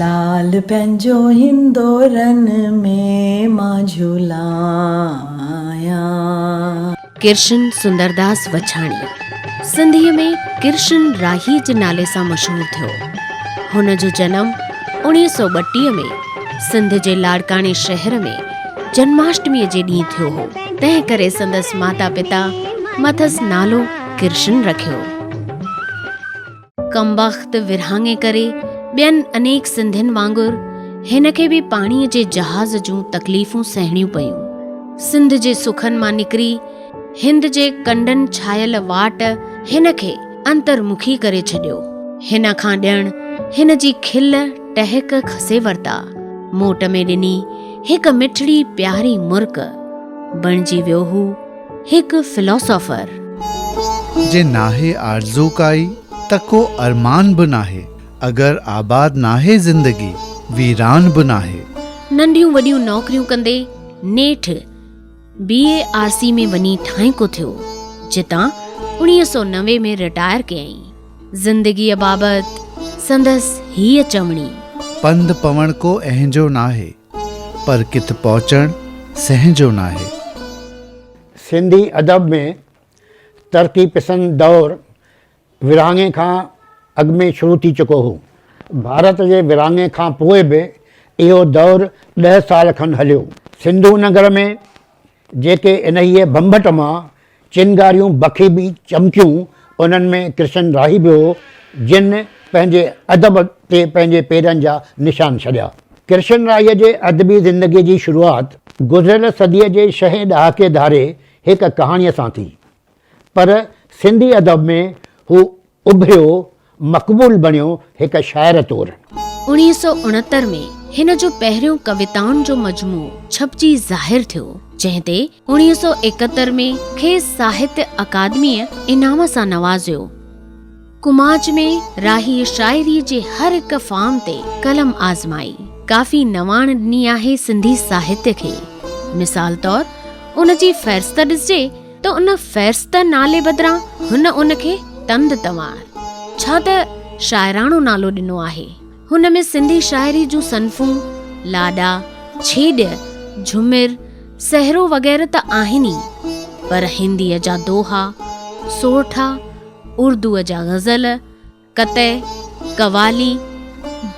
لال پنهنجو هندورن ۾ مان جهلايان. ڪرشن سندرداس وڇاڻي سنڌيء ۾ ڪرشن راهيء جي نالي سان مشهور ٿيو. هن جو جنم اوڻيهه سؤ ٻٽيهه ۾ سنڌ جي لاڙڪاڻي شهر ۾ جنماشٽميء جي ڏينهن ٿيو هو. تنهن ڪري سندس ماتا پتا مٿس نالو. ڪرشن رکيو. ڪمبخت ورهاڱي ڪري ٻين انيڪ سنڌين وانگر هن کي به پاڻي جي جهاز جون تڪليفون سهڻيون پيون. سنڌ جي سکن مان نڪري هند جي ڪنڊن ڇايل واٽ هن کي انترمکي ڪري ڇڏيو. هن کان ڄڻ هن جي کل ٽهڪ کسي ورتا. موٽ ۾ ڏني هڪ مٺڙي پياري مرڪ بڻجي ويو هو. هڪ فلاسافر. جي ناهي آرزو ڪائي ته ڪو ارمان به ناهي. اگر آباد ناهي زندگي ويران به ناهي. ننڍيون وڏيون نوڪريون ڪندي نيٺ بي اي آر سي ۾ وڃي ٺاهينڪو ٿيو جتان اڻيهه سؤ نوي ۾ رٽائر ڪيائين. زندگيء بابت سندس هيء چوڻي. پنڌ پوڻ ڪو اهنجو ناهي. پر ڪٿ پهچڻ سنهن جو ناهي. سنڌي ادب ۾ ترقي پسند دور ورهاڱي کان اڳ ۾ شروع ٿي چڪو هو. ڀارت جي ورهاڱي کان پوء به اهو دور ڏهه سال کن هليو. سنڌو نگر ۾. جيڪي انهيء ڀنڀٽ مان چنگاريون بکيبي چمڪيون، انهن ۾ ڪرشن راهي به هو، جن پنهنجي ادب تي پنهنجي پيرن جا نشان ڇڏيا. ڪرشن راهيء جي ادبي زندگيء جي شروعات گذريل صديء جي شهين ڏهاڪي ڌاري هڪ ڪهاڻيء سان ٿي. پر سنڌي ادب ۾ هو اڀريو، مقبول بڻيو هڪ شاعر طور. اڻيهه سؤ اڻهتر ۾ هن جو پهريون ڪويتائن جو مجموعو ڇپجي ظاهر ٿيو، جنهن تي اڻيهه سؤ ايڪهتر ۾ کيس ساهتيه اڪادميء انعام سان نوازيو. ڪماچ ۾ راهيء شاعريء جي هر هڪ فارم تي قلم آزمائي، ڪافي نواڻ ڏني آهي سنڌي ساهتيه کي. مثال طور ان جي فهرست ڏسجي ته ان فهرست نالي بدران هن ان کي تند تنوار، ڇا ته شاعراڻو نالو ڏنو آهي. هن ۾ سنڌي شاعري جون صنفون، لاڏا، ڇيڄ، جهمر، سهرو وغيره ته آهن ئي، پر هنديء جا دوها، سورٺا، اردوء جا غزل، قطع، قوالي،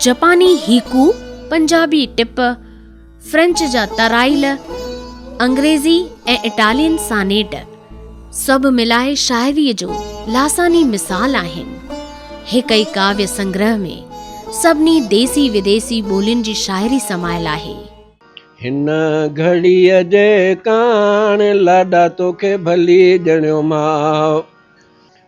جپاني هيڪو، پنجابي ٽپ، فرينچ جا ترائيل، انگريزي ۽ اٽالين سانيٽ، سڀ ملائي شاعريء جو لاثاني مثال آهن. هڪ ئي ڪاوية سنگرهه ۾ سڀني ديسي وديسي ٻولين جي شاعري سمايل آهي. هن گهڙيء جي ڪاڻ لاڏا توکي ڀلي ڄڻيو ماء.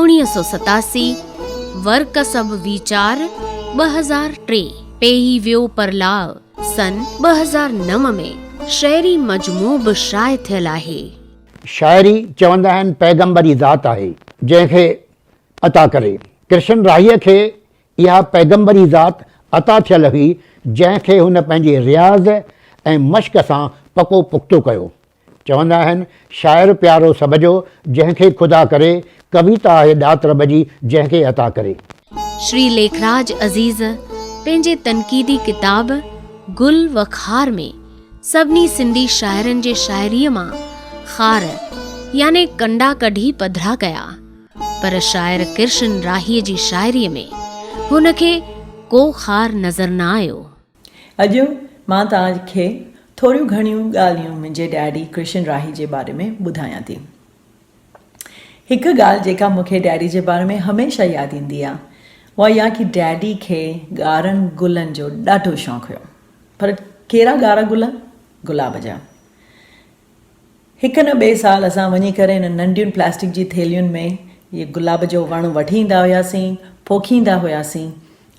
اڻيهه سؤ ستاسي، ورڪسب ويچار، ٻه هزار ٽي، پيهي ويو پرلاء، سن ٻه هزار نو ۾ شعري مجموعو به شايع ٿيل آهي. شاعري چوندا آهن پيغمبر ئي ذات آهي جنهن کي عطا ڪري. ڪرشن راهيء کي اها پيغمبر ئي ذات عطا ٿيل هئي جنهن کي هن پنهنجي رياض ۽ مشق سان پڪو پختو ڪيو. چوندا آهن، شاعر پيارو سڀ جو، جنهن کي خدا ڪري، ڪويتا آهي ڏات رب جي، جنهن کي عطا ڪري. شري ليکراج عزيز پنهنجي تنقيدي ڪتاب گل و خار ۾ سڀني سنڌي شاعرن جي شاعريء مان خار يعني ڪنڊا ڪڍي پڌرا ڪيا، پر شاعر ڪرشن راهيء جي شاعريء ۾ هن کي ڪو خار نظر نه آيو. اڄ مان توهان کي ٿوريون گهڻيون ڳالهيون منهنجي ڊئڊي ڪرشن راهي جي باري ۾ ٻڌايان ٿي. هڪ ڳالهه جيڪا مون کي ڊئڊي جي باري ۾ هميشه ياد ايندي آهي اها اها ڪي ڊئڊي کي ڳارن گلن جو ڏاڍو شوق هيو پر ڪهڙا ڳارا گل گلاب جا. هڪ نه ٻئي سال اسان وڃي ڪري هنن ننڍين پلاسٽڪ جي ٿيلهين ۾ اهي گلاب جو وڻ وڍي ايندا هياسين، پوکيندا هياسين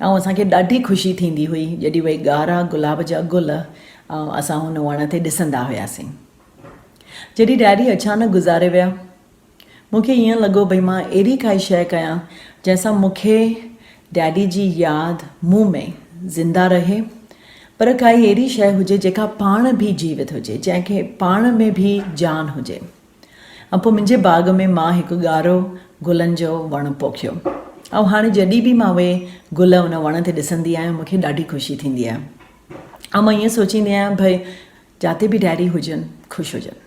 ۽ اسان کي ڏاڍي خوشي ٿيندي هئي جڏهن اهي ڳارا گلاب جا گل اسان هن وڻ تي ڏسندا هياسين. جڏهن ڊيڊي اچانڪ گذاري ويا. مون کي ائين لڳو ڀئي مان اهڙي ڪائي شيء ڪيان جنهن سان مون کي ڊيڊي جي ياد مون ۾ زنده رهي پر ڪائي اهڙي شيء هجي جيڪا پاڻ به جيوت هجي جنهن کي پاڻ ۾ به جان هجي ۽ پوء منهنجي باغ ۾ مان هڪ ڳارو گلن جو وڻ پوکيو ۽ هاڻي جڏهن به مان اهي گل ان وڻ تي ڏسندي آهيان مون کي ڏاڍي خوشي ٿيندي آهي ۽ مان ائين سوچيندي آهيان ڀئي جاتي به ڊيڊي هجن خوش هجن.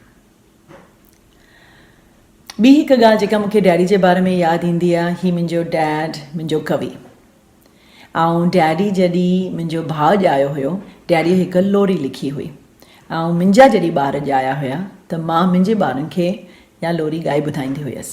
ٻي هڪ ڳالهه جيڪا مون کي ڊيڊي جي باري ۾ ياد ايندي آهي هي منهنجو ڊيڊ منهنجو قوي آئون ڊيڊي جڏي منهنجو ڀاء ڄايو هيو ڊيڊي هڪ لوري لکي هئي آئون منهنجا جڏي ٻار ڄايا هيا ته مان منهنجي ٻارن کي يا لوري ڳائي ٻڌائيندي هيس.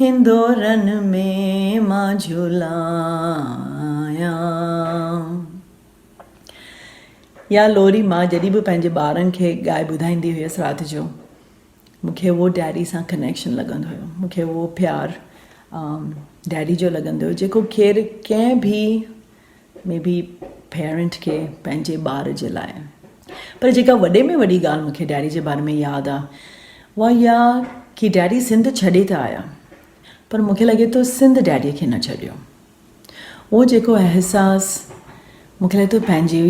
هندورن ۾ مان جهولايان. اها لوري مان جڏهن به پنهنجي ٻارن کي ڳائي ٻڌائيندي هيس رات جو مون کي اهو ڊيڊي سان ڪنيڪشن لڳندو هيو مون کي اهو پيار ڊيڊي جو لڳندو هيو جيڪو کير ڪنهن به مي بي پيرنٽ کي پنهنجي ٻار جي لاء پر جيڪا وڏي ۾ وڏي ڳالهه مونکي ڊيڊي جي باري ۾ ياد آ اها اها ڪي ڊيڊي سنڌ ڇڏي ته آيا پر مونکي لڳي ٿو سنڌ ڊيڊي کي نه ڇڏيو اهو جيڪو احساس مونکي لڳي ٿو پنهنجي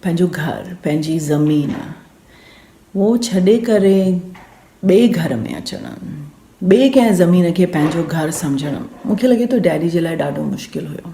پنهنجو گهر پنهنجي زمين اهو ڇڏي ڪري ٻي گهر ۾ اچڻ ٻي ڪنهن زمين کي پنهنجو گهر سمجهڻ مونکي لڳي ٿو ڊيڊي جي لاء ڏاڍو مشڪل هيو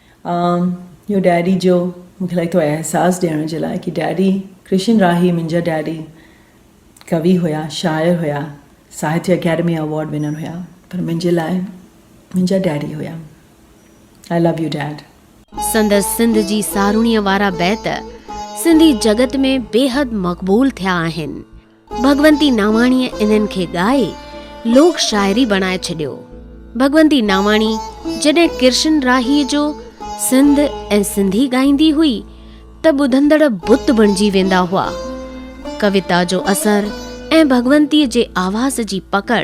آء اهو ڊيڊي جو مون کي لڳي ٿو احساس ڏيڻ جي لاء ڪي ڊيڊي ڪرشن راهي منهنجا ڊيڊي ڪوي هيا شاعر هيا ساهتيه اڪيڊمي اوارڊ ونر هيا پر منهنجي لاء منهنجا ڊيڊي هيا آء لو يو ڊيڊ. سندس سنڌ جي ساروڻيء وارا بيت سنڌي جڳت ۾ بيحد مقبول ٿيا آهن. ڀڳونتي ناواڻيء انهن کي ڳائي لوڪ شاعري بڻائي ڇڏيو. ڀڳونتي ناواڻي جڏهن ڪرشن راهيء جو سنڌ ۽ سنڌي ڳائيندي هئي ته ٻڌندڙ بت بڻجي ويندا هئا. ڪويتا جو اثر ۽ ڀڳونتيء جي آواز جي پڪڙ!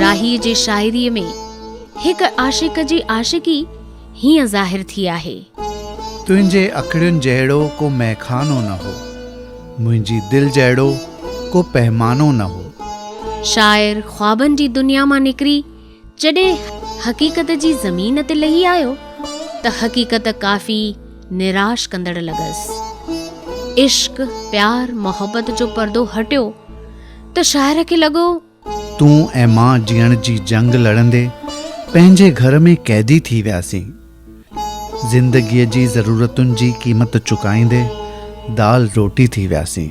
راهيء جي شاعريء ۾ هڪ عاشق جي عاشقي هيئن ظاهر ٿي آهي. تنهنجي اکڙين جهڙو ڪو مئخانو نه هو. منهنجي دل جهڙو ڪو پهمانو نه هو. شاعر خوابن جي دنيا مان نڪري جڏهن حقيقت جي زمين تي لهي آيو ته حقيقت ڪافي نراش ڪندڙ لڳس. عشق، پيار، محبت جو پردو هٽيو. ته شاعر کي لڳو. تون ۽ مان جيئڻ جي جنگ لڙندي پنهنجي گهر ۾ قيدي ٿي وياسين. زندگيء جي ضرورتن جي قيمت چڪائيندي دال روٽي ٿي وياسين.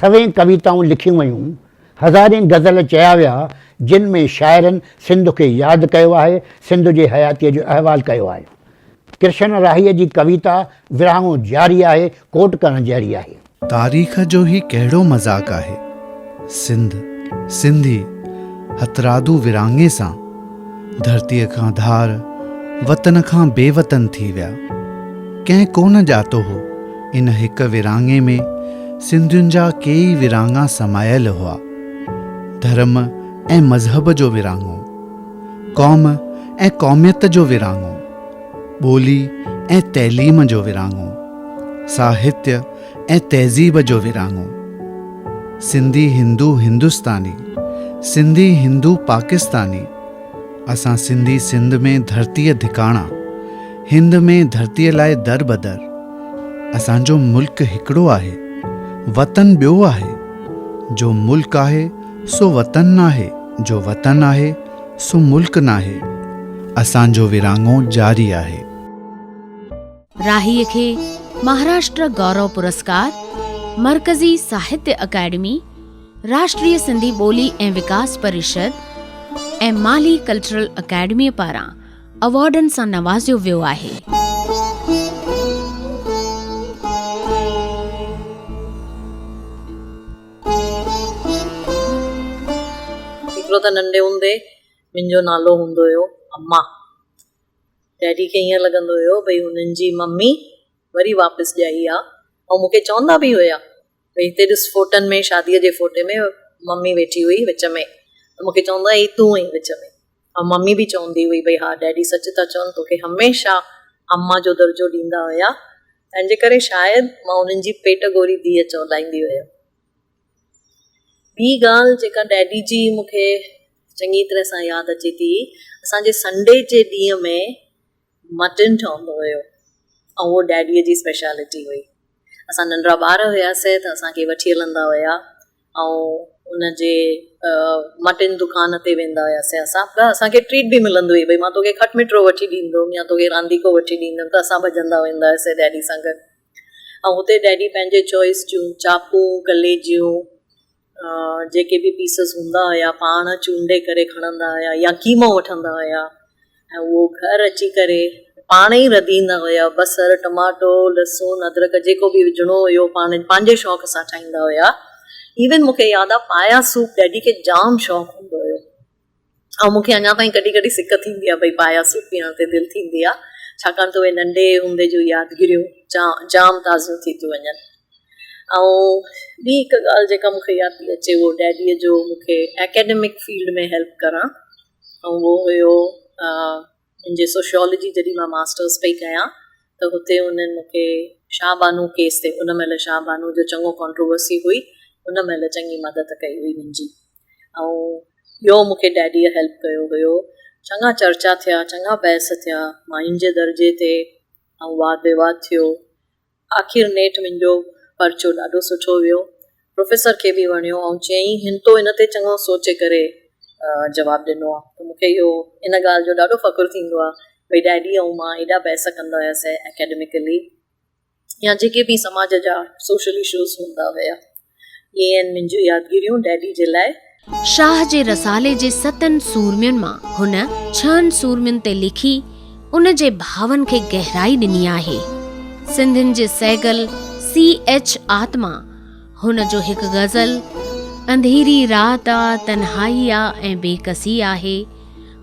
سوين ڪويتائون لکيون ويون، هزارين غزل چيا ويا، جن ۾ شاعرن سنڌ کي ياد ڪيو آهي، سنڌ جي حياتيء جو احوال ڪيو آهي. ڪرشن راهيء جي ڪويتا ورهاڱو جاري آهي، ڪوٽ ڪرڻ جهڙي آهي. تاريخ جو هي ڪهڙو مذاق آهي، سنڌ، سنڌي، هٿرادو ورهاڱي سان، ڌرتيء کان ڌار، وطن کان بي وطن ٿي ويا. ڪنهن ڪونه ڄاتو هو، ان هڪ ورهاڱي ۾ سنڌين جا ڪيئي ورهاڱا سمايل هئا. ڌرم ۽ مذهب جو ورهاڱو، قوم ۽ قوميت جو ورهاڱو، ٻولي ۽ تعليم جو ورهاڱو، ساهتيه، ۽ تهذيب جو ورهاڱو. سنڌي هندو هندستاني، سنڌي هندو پاڪستاني، اسان سنڌي سنڌ ۾ ڌرتيء ڌڪاڻا، هند ۾ ڌرتيء لاء در بدر. اسان جو ملڪ هڪڙو آهي، وطن ٻيو آهي. جو ملڪ آهي سو وطن ناهي، جو وطن آهي سو ملڪ ناهي. اسان جو ورهاڱو جاري آهي. راهيء کي مهاراشٽر گورو پرسڪار، مرڪزي ساهتيه اڪيڊمي، راشٽريه سنڌي ٻولي ۽ وڪاس پريشد ۽ مالهي ڪلچرل اڪيڊميء پاران ايوارڊن سان نوازيو ويو آهي. هڪڙو ته ننڍي هوندي منهنجو نالو هوندو هيو اما. ڊيڊي کي ائين لڳندو هيو ڀئي هنن جي ممي وري واپس ڄائي آ ۽ مون کي چوندا به هيا ڀئي هتي ڏس فوٽن ۾ شاديء جي فوٽي ۾ ممي ويٺي هئي وچ ۾ ته مون کي چوندا هئي تون هئين وچ ۾ ۽ ممي به چوندي هئي ڀئي ها ڊيڊي سچ ٿا چون توکي هميشه اما جو درجو ڏيندا هيا تنهنجي ڪري شايد مان هنن جي پيٽ گوري ڌيء چولائيندي هيم ٻي ڳالهه جيڪا ڊيڊي جي مون کي چڱي طرح سان ياد اچي ٿي اسان جي سنڊي جي ڏينهن ۾ مٽن ٺهندو هيو ۽ اهو ڊيڊي جي اسپيشلٽي هئي اسان ننڍڙا ٻار هياسين ته اسان کي وٺي هلندا هيا ۽ ان جي مٽن دڪان تي ويندا هياسين اسان ته اسان کي ٽريٽ به ملندو هئي ڀئي مان توکي کٽ مٺڙو وٺي ڏيندوم يا توکي رانديڪو وٺي ڏيندوم ته اسان ڀڄندا ويندا هياسين ڊيڊي سان گڏ ۽ هتي ڊيڊي پنهنجي چوائس جون چاقون ڪليجيون جيڪي به پيسز هوندا هيا پاڻ چونڊي ڪري کڻندا هيا يا قيمو وٺندا هيا ۽ اهو گهر اچي ڪري پاڻ ئي رڌيندا هيا بصر ٽماٽو لسون ادرڪ جيڪو به وجهڻو هيو پاڻ پنهنجي شوق سان ٺاهيندا هيا ايون مونکي ياد آ پايا سوپ ڊيڊي کي جام شوق هوندو هيو ۽ مون کي اڃا تائين ڪڏهن ڪڏهن سڪ ٿيندي آهي، ڀئي پايا سوٽ پيئڻ تي دل ٿيندي آهي، ڇاڪاڻ ته اهي ننڍي هوندي جون يادگيريون جام تازيون ٿي ٿيون وڃن. ۽ ٻي هڪ ڳالهه جيڪا مون کي ياد پئي اچي اهو ڊيڊيء جو مون کي اڪيڊمڪ فيلڊ ۾ هيلپ ڪرڻ ۽ اهو هيو منهنجي سوشيالجي جڏهن مان ماسٽرس پئي ڪيان ته هتي انهن مون کي شاهه بانو ڪيس تي ان مهل شاهه بانو جو چڱو ڪانٽروورسي هئي ان مهل چڱي مدد ڪئي هئي منهنجي. ۽ ٻيو مون کي ڊيڊيء هيلپ ڪيو هيو. چڱا چرچا ٿيا، چڱا بحث ٿيا، ماين جي درجي تي ۽ واد ويواد ٿيو. آخر نيٺ منهنجو پرچو ڏاڍو سٺو ويو. پروفيسر کي به وڻيو ۽ چيائين هن تو ان تي چڱو سوچي ڪري جواب ڏنو آ. ته مون کي اهو ان ڳالهه جو ڏاڍو فخر ٿيندو آ، ڀئي ڊيڊي ۽ مان ايڏا بحث ڪندا هياسين اڪيڊميڪلي. يا جيڪي به سماج جا سوشل اشوز هوندا هيا. اهي آهن منهنجون يادگيريون ڊيڊي جي لاء. شاهه جي رسالي جي ستن سورمين مان هن ڇهن سورمين تي لکي ان جي ڀاون کي گهرائي ڏني آهي. سنڌين جي سهگل سي ايڇ آتما هن جو هڪ غزل انڌيري رات آ، تنهائي آ ۽ بيڪسي آهي.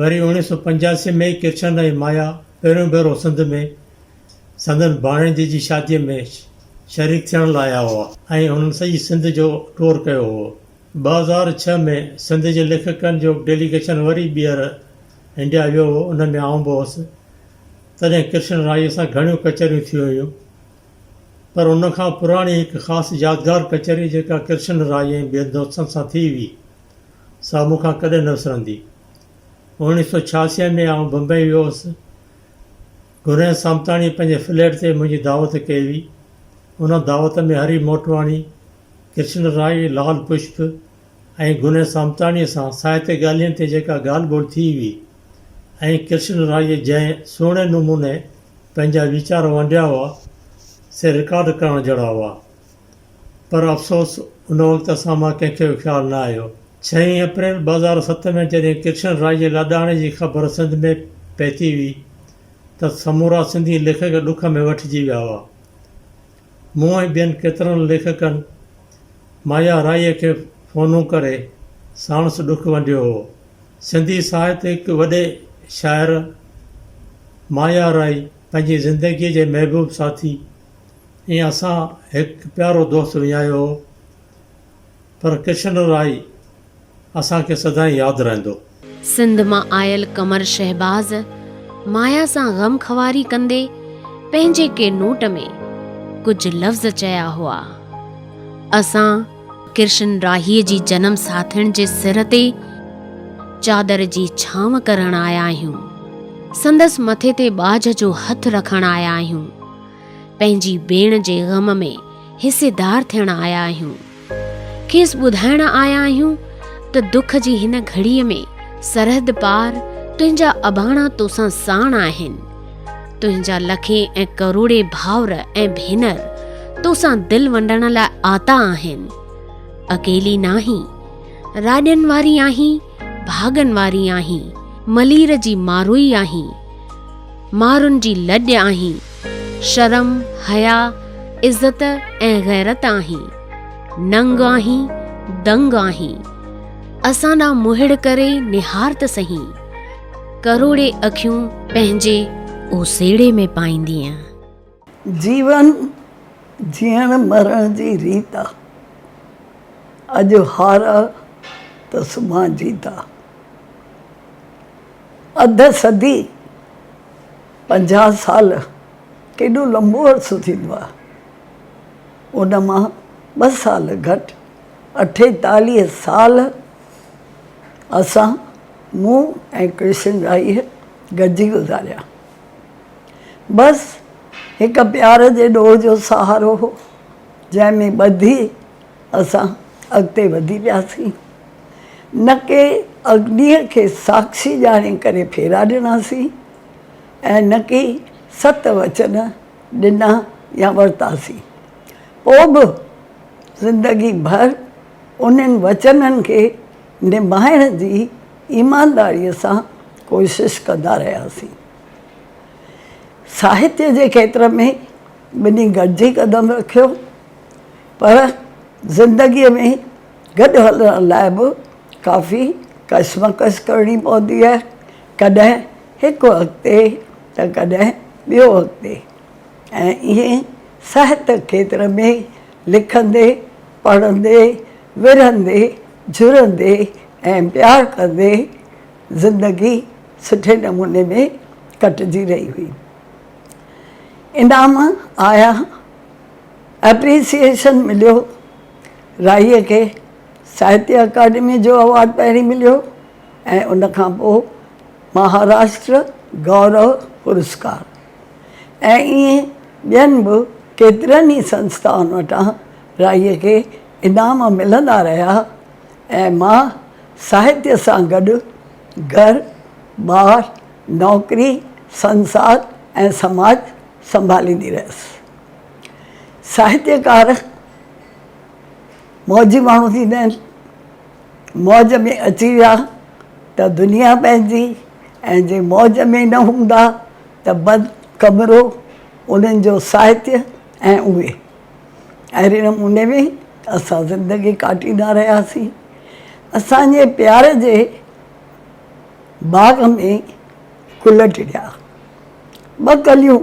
وري اوڻيھ سؤ پنجاسي ۾ ڪرشن ۽ مايا پهريون ڀيرو سنڌ ۾ سندن ڀاڻيجي جي شاديء ۾ شريڪ ٿيڻ لاء آيا هئا ۽ هنن سڄي سنڌ جو ٽور ڪيو هئو. ٻه هزار ڇهه ۾ سنڌ جي ليکڪن جو ڊيليگيشن وري ٻيهر انڊيا ويو هئو، ان ۾ آئون به هوس، تڏهن ڪرشن رائيء سان گهڻيون ڪچهريون ٿيون هيون. پر ان کان پراڻي هڪ خاص يادگار ڪچهري جيڪا ڪرشن راء ۽ ٻين دوستن سان ٿي هئي، سا مون کان ڪڏهن نه وسرندي. اوڻيهه سؤ ڇياسي ۾ آئون بمبئي ويو هوس. گنهي سامتاڻي پنهنجي فليٽ تي منهنجي دعوت ڪئي هئي. ان دعوت ۾ هري موٽواڻي، ڪرشن راء، لعل پشپ، ۽ گنهه سامتاڻيء سان ساهتي ڳالهين تي جيڪا ڳالهه ٻولهه ٿي هئي ۽ ڪرشن رائيء جنهن سهڻي نموني پنهنجا ويچار ونڊيا هئا، سي رڪارڊ ڪرڻ جهڙا هئا. پر افسوس ان وقت اسان مان ڪنهن کي به خيال نه آيو. ڇهين اپريل ٻه هزار ست ۾ جڏهن ڪرشن رائيء جي لاڏاڻي جي خبر سنڌ ۾ پهتي هئي ته سمورا سنڌي ليکڪ ڏک ۾ ويٺجي ويا هئا. مون ۽ ٻين ڪيترن ليکڪن مايا رائيء کي فونون ڪري ساڻس ڏک ونڊيو هو. سنڌي ساهت هڪ وڏي شاعر مايا رائي پنهنجي زندگيء جي محبوب ساٿي ۽ اسان هڪ پيارو دوست وڃايو هو. پر ڪشن رائي اسان کي سدائين ياد رهندو. سنڌ مان آيل قمر شهباز مايا سان غم خواري ڪندي پنهنجي ڪي نوٽ ۾ ڪجهه لفظ چيا هئا. اسان ڪرشن راهيء جي جنم ساٿڻ جي سر تي چادر جي ڇانو ڪرڻ آيا آهيون. سندس مٿي تي ٻاجهه جو هٿ رکڻ آيا آهيون. پنهنجي ڀيڻ جي غم ۾ حصيدار ٿيڻ آيا آهيون. کيس ٻڌائڻ آيا آهيون ته دک جي هن گهڙيء ۾ سرحد پار تنهنجا اباڻا توسان ساڻ آهن. تنهنجا لکين ۽ ڪروڙين ڀائر ۽ ڀينر توسان دل ونڊڻ لاء آتا آهن. اڪيلي ناهين. راڄن واري آهين. ڀاڳن واري آهين، ملير جي ماروئي آهين، مارن جي لڄ آهين، شرم، حياء، عزت ۽ غيرت آهين، ننگ آهين، دنگ آهين، اسان ڏانهن مهڙ ڪري نهار ته سهي، ڪروڙي اکيون پنهنجي اوسيڙي ۾ پائيندينء. جيون جيئڻ مرڻ جي ريت آ. اڄ هار آ ته سڀان جيت آ. اڌ صدي، پنجاهه سال ڪيڏو لنبو عرصو ٿيندو آ. ان مان ٻه سال گهٽ اٺيتاليهه سال اسان، مون ۽ ڪرشن راهيء گڏجي گذاريا. بس هڪ پيار جي ڏوهه جو سهارو هو، جنهن ۾ ٻڌي اسان اڳتي وڌي پياسين. نڪي اگنيء کي ساڪشي ڄاڻي ڪري ڦيرا ڏناسين ۽ نڪي ست وچن ڏنا يا ورتاسين. پوء به زندگي ڀر انهن وچنن کي نڀائڻ جي ايمانداريء سان ڪوشش ڪندا رهياسين. ساهتيه جي کيتر ۾ ٻنهي گڏجي قدم رکيو، پر زندگيء ۾ گڏ هلڻ لاء به ڪافي ڪشمڪش ڪرڻي پوندي آهي، ڪڏهن هڪ اڳتي ته ڪڏهن ٻيو اڳتي ۽ ائين ساهت کيتر ۾ لکندي، پڙهندي، ورهندي، جهرندي ۽ پيار ڪندي زندگي سٺي نموني ۾ ڪٽجي رهي هئي. انعام آيا، Appreciation مليو، راهيء کي ساهتيه اڪاڊميء جو اوارڊ پهرين مليو ۽ ان کان پوء مهاراشٽر گورو پرسڪار. ۽ ائين ٻين به ڪيترن ئي سنسٿائن وٽان رائيء کي انعام ملندا رهيا ۽ مان ساهتيه سان گڏ گهر، ٻار، نوڪري، سنسار ۽ سماج سنڀاليندي رهيس. ساهتيڪار موجي ماڻهو ٿيندا آهن. موج ۾ اچي ويا ته دنيا پنهنجي ۽ جي موج ۾ نه هوندا ته بند ڪمرو انهن جو ساهتيه ۽ اهي اهڙي نموني ۾ اسان زندگي ڪاٽيندا رهياسين اسان جي پيار جي باغ ۾ گل ٽڙيا ٻه ڪليون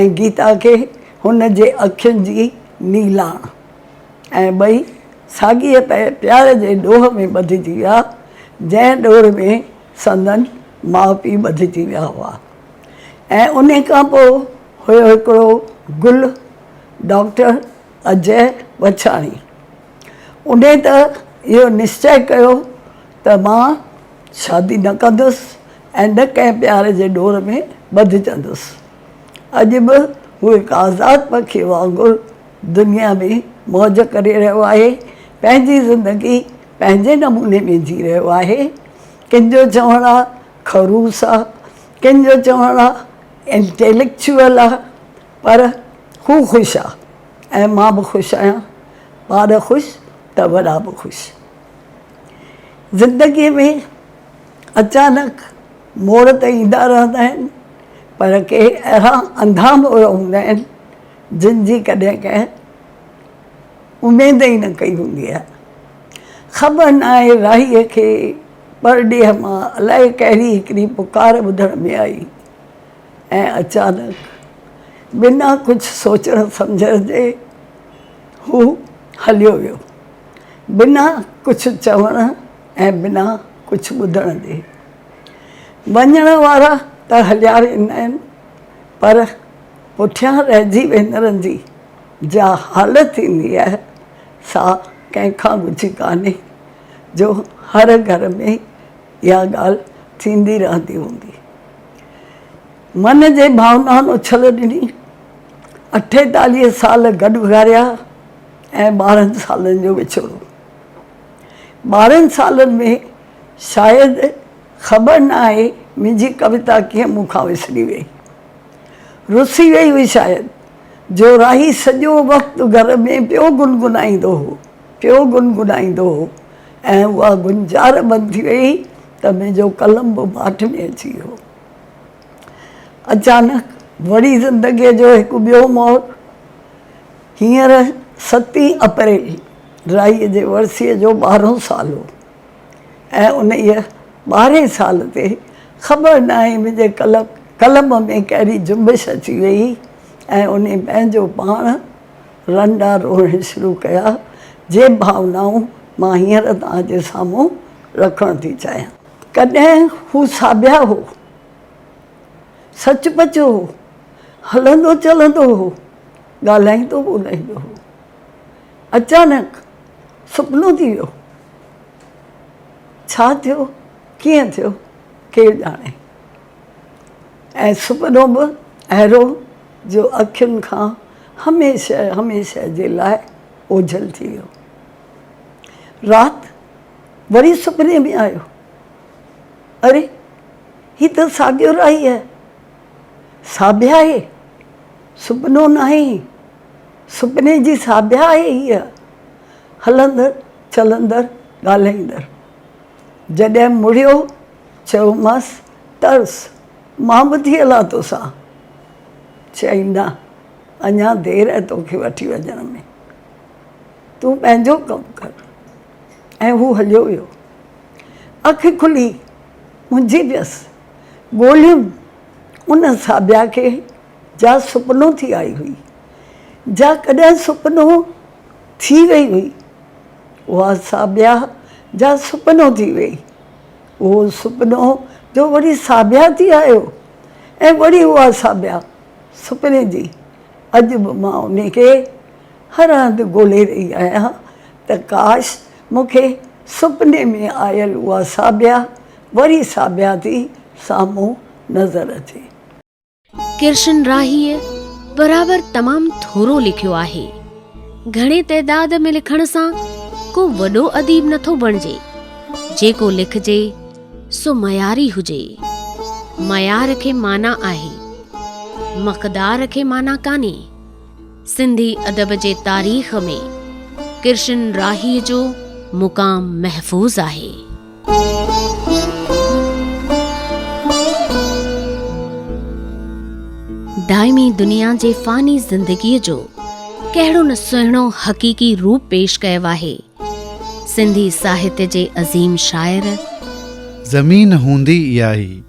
۽ گيتا کي هن جي اکين جي نيلاڻ ۽ ٻئي ساڳيء پنهنجي پيار جي ڏوهه ۾ ٻڌجي ويا، جنهن ڏور ۾ سندن ماء پيء ٻڌجي ويا هئا ۽ انهي کان پوء هيو هڪڙو گل ڊاڪٽر اجئه وڇاڻي. انهي ته اهو نشچئه ڪيو ته مان شادي نه ڪندس ۽ نه ڪنهن پيار جي ڏور ۾ ٻڌجندس. اڄ به هو هڪ آزاد پکي وانگر دنيا ۾ موج ڪري رهيو آهي، پنهنجي زندگي پنهنجي نموني ۾ جي رهيو آهي. ڪن جو چوڻ آ خروس آ، ڪن جو چوڻ آ انٽيليڪچوئل آ، پر هو خوش آ ۽ مان به خوش آهيان. ٻار خوش ته وڏا به خوش. زندگيء ۾ اچانڪ موڙ ته ايندا رهندا آهن، پر ڪي اهڙا انڌا موڙ هوندا آهن، جن جي ڪڏهن ڪنهن اميد ئي نه ڪئي هوندي آهي. خبر ناهي راهيء کي پرڏيهه مان الائي ڪهڙي هڪڙي پڪار ٻڌڻ ۾ آئي ۽ اچانڪ بنا ڪجهه سوچڻ سمجهڻ جي هو هليو ويو. بنا ڪجهه چوڻ ۽ بنا ڪجهه ٻڌڻ جي. وڃڻ وارا ته هليا ويندا آهن پر پٺيان رهجي ويندڙن جي جا حالت ٿيندي آهي سا ڪنهن کان ڳجهي ڪانهي جو هر گهر ۾ اها ڳالهه ٿيندي رهندي هوندي. من جي ڀاونائن اڇل ڏني، اٺيتاليهه سال گڏ گهاريا، ۽ ٻارهن سالن جو وڇوڙو. ٻارهن سالن ۾ شايد خبر نه آهي منهنجي ڪويتا ڪيئن مون کان وسري ويئي. رسي ويئي هئي شايد، جو راهي سڄو وقت گهر ۾ پيو گنگنائيندو هو، پيو گنگنائيندو هو ۽ اها گنجار بند ٿي ويئي ته منهنجو قلم به ماٺ ۾ اچي ويو. اچانڪ وڙي زندگيء جو هڪ ٻيو موڙ. هينئر ستين اپريل رائيء جي ورسيء جو ٻارهون سال هو ۽ انهيء ٻارهين سال تي خبر ناهي منهنجي قلم ۾ ڪهڙي جنبش اچي ويئي ۽ انهي پنهنجو پاڻ رنڊا روئڻ شروع ڪيا، جي ڀاونائون مان هينئر توهان جي سامهون رکڻ ٿي چاهيان. ڪڏهن هو ساڀيا هو، سچ پچ هو، هلندو چلندو هو. ڳالهائيندو ٻولهائيندو هو. اچانڪ سپنو ٿي ويو. ڇا ٿيو ڪيئن ٿيو ڪير ڄاڻي. ۽ سپنو به اهڙو جو اکين کان هميشه هميشه جي لاء اوجهل ٿي ويو. رات وري سپني ۾ آيو. اري هي ته ساڳيو راهي آهي. ساڀياهي. سپنو ناهي، سپني جي ساڀيا آهي هيء، هلندڙ چلندڙ ڳالهائيندڙ. جڏهن مڙيو، چيومانس، ترس، مان به ٿي هلان توسان؟ چيائين، نه، اڃا دير آهي توکي وٺي وڃڻ ۾، تون پنهنجو ڪم ڪر. ۽ هو هليو ويو. اک کلي، منجهي ويس، ڳولهيم ان ساڀيا کي. جا سپنو ٿي آئي هئي، جا ڪڏهن سپنو ٿي وئي هئي، اها ساڀيا جا سپنو ٿي وئي، اهو سپنو جو وري ساڀيا ٿي آيو ۽ وري اها ساڀيا سپني جي اڄ به مان انهي کي هر هنڌ ڳولي رهي آهيان ته ڪاش مون کي سپني ۾ آيل اها ساڀيا وري ساڀيا ٿي سامهون نظر اچي. ڪرشن راهيء برابر تمام ٿورو لکيو آهي. گهڻي تعداد ۾ لکڻ سان ڪو وڏو اديب نه ٿو بڻجي. جيڪو لکجي سو معياري هجي. معيار کي معنيٰ آهي، مقدار کي معنيٰ ڪانهي. سنڌي ادب جي تاريخ ۾ ڪرشن راهيء جو مقام محفوظ آهي. دائمي دنيا جي فاني زندگيء جو ڪهڙو نه سهڻو حقيقي روپ پيش ڪيو آهي سنڌي ساهت جي عظيم شاعر. زمين هوندي اهائي.